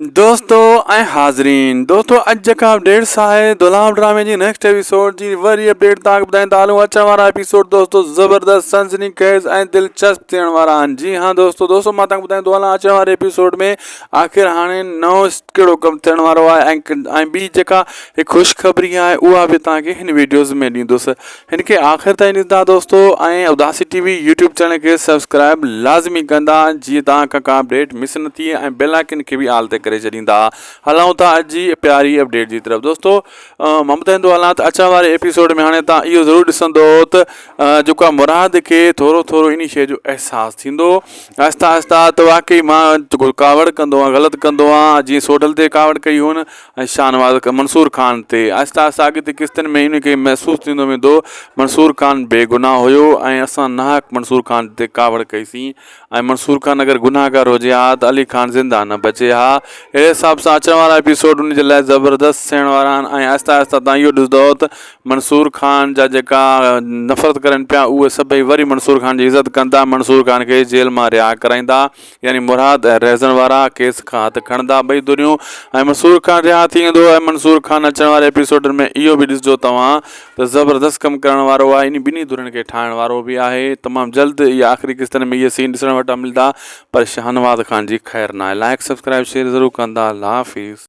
دوستو ۽ حاضرين دوستو اڄ جيڪا ڊيٽس آهي دولاب ڊرامي جي نيڪسٽ ايپيسوڊ جي وري اپڊيٽ تان ٻڌائين ٿا هلون اچڻ وارا ايپيسوڊ دوستو زبردست سنسني خيز ۽ دلچسپ ٿيڻ وارا آهن جي ها دوستو دوستو مان تان ٻڌائين ٿو هلان اچڻ واري ايپيسوڊ ۾ آخر هاڻي نو ڪهڙو ڪم ٿيڻ وارو آهي ۽ ٻي جيڪا خوشخبري آهي اها به تان کي هن ويڊيوز ۾ ڏيندس هن کي آخر تائين ڏسندا دوستو ۽ اداسي ٽي وي يوٽيوب چينل کي سبسڪرائب لازمي ڪندا جيئن توهان کان ڪا اپڊيٽ مس نه ٿئي ۽ بيل آئڪن کي به آل تي ڪري ڇڏيندا هلائون ٿا اڄ جي پياري اپڊيٽ جي طرف دوستو مان ٻڌائيندو هلان ته اچڻ واري ايپيسوڊ ۾ هاڻي توهان اهو ضرور ڏسندو ته جيڪو آ مراد کي ٿورو ٿورو انهي شيء جو احساس ٿيندو آهسته آهسته ته واقعي مان ڪاوڙ ڪندو آهيان غلط ڪندو آهيان جيئن سوڍل تي ڪاوڙ ڪئي هئن ۽ شاهنواز منصور خان تي آهستي آهستي آڳتي قسطن ۾ ان کي محسوس ٿيندو ويندو منصور خان بي گناهه هيو ۽ اسان ناحق منصور خان تي ڪاوڙ ڪئي سين ۽ منصور خان اگر گناهگار هجي ها ته علي خان زنده نه بچي ها اهڙي حساب سان اچڻ وارا ايپيسوڊ ان جي لاء زبردست ٿيڻ وارا آهن ۽ آهستي آهستي تان اهو ڏسندو ته منصور خان جا جيڪا نفرت ڪرن پيا اهي سڀئي وري منصور خان جي عزت ڪندا منصور خان کي جيل مان رها ڪرائيندا يعني مراد ۽ رهزن وارا ڪيس کان هٿ کڻندا ٻئي ڌريون ۽ مسرور خان رها ٿي ويندو ۽ منصور خان اچڻ واري ايپيسوڊن ۾ اهو به ڏسجو توهان ته زبردست ڪم ڪرڻ وارو آهي يعني ٻنهي ڌرين کي ٺاهڻ وارو به آهي تمام جلد اهي آخري قسطن ۾ اهي سين ڏسڻ وٽان ملدا پر شاهنواز خان جي خير ناهي لائق سبسڪرائب شيئر ضرور ڪندا الله حافظ.